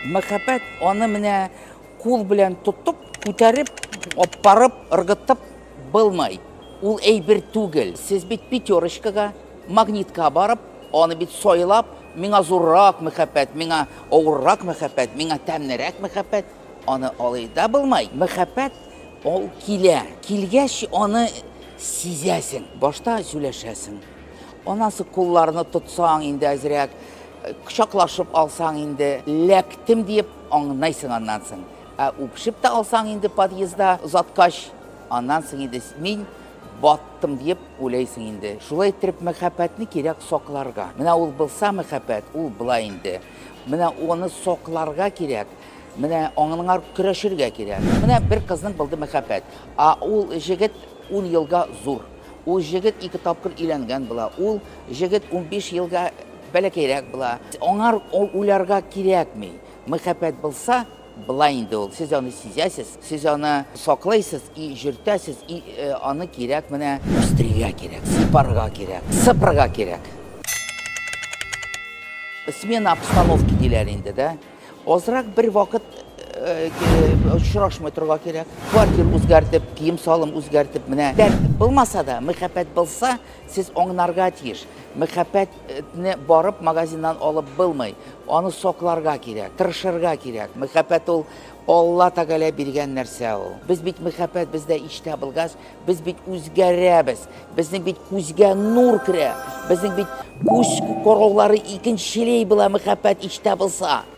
Мәхәббәт аны менә кул белән тотып, күтәреп, аппарып, ыргытып булмый. Ул әйбер түгел. Сез бит пятерочкага, магнитка барып, аны бит сайлап, миңа зуррак мәхәббәт, миңа авыррак мәхәббәт, миңа тәмнерәк мәхәббәт, аны алай да булмый. Мәхәббәт ул килә. Килгәч, аны сизәсең. Башта сөйләшәсең. Анасы кулларны тотсаң инде әзрәк, кочаклашып алсаң инде, ләктем диеп аңнайсың аннан соң. Ә үпшеп тә алсаң инде подъезда озаткач, аннан соң инде мин баттым диеп уйлайсың инде. Шулай иттереп мәхәббәтне кирәк сакларга. Менә ул булса мәхәббәт, ул болай инде. Менә аны сакларга кирәк. Менә аңыңар көрәшергә кирәк. Менә бер кызның булды мәхәббәт. А ул җегет ун елга зур. Ул җегет ике тапкыр өйләнгән була. Ул җегет унбиш елга бәләкәйрәк була. Аңар уйларга кирәкми. Мәхәббәт булса, болай инде ул. Сез аны сизәсез, сез аны саклыйсыз и җөртәсез, и аны кирәк менә үстерергә кирәк, сыйпарга кирәк, сыпырырга кирәк. Смена обстановки диләр инде, да? Азрак бер вакыт очрашмый торга кирәк. Квартир үзгәртеп, кием салым үзгәртеп, менә дәрт булмаса да, мәхәббәт булса, сез аңнарга тиеш. Мәхәббәтне барып магазиннан алып булмый. Аны сокларга кирәк, тырышырга кирәк. Мәхәббәт ул Алла Тәгалә биргән нәрсә ул. Без бит мәхәббәт бездә иштә булгач, без бит үзгәрәбез. Безнең бит күзгә нур керә. Безнең бит күз короллары икенчелей була мәхәббәт иштә булса.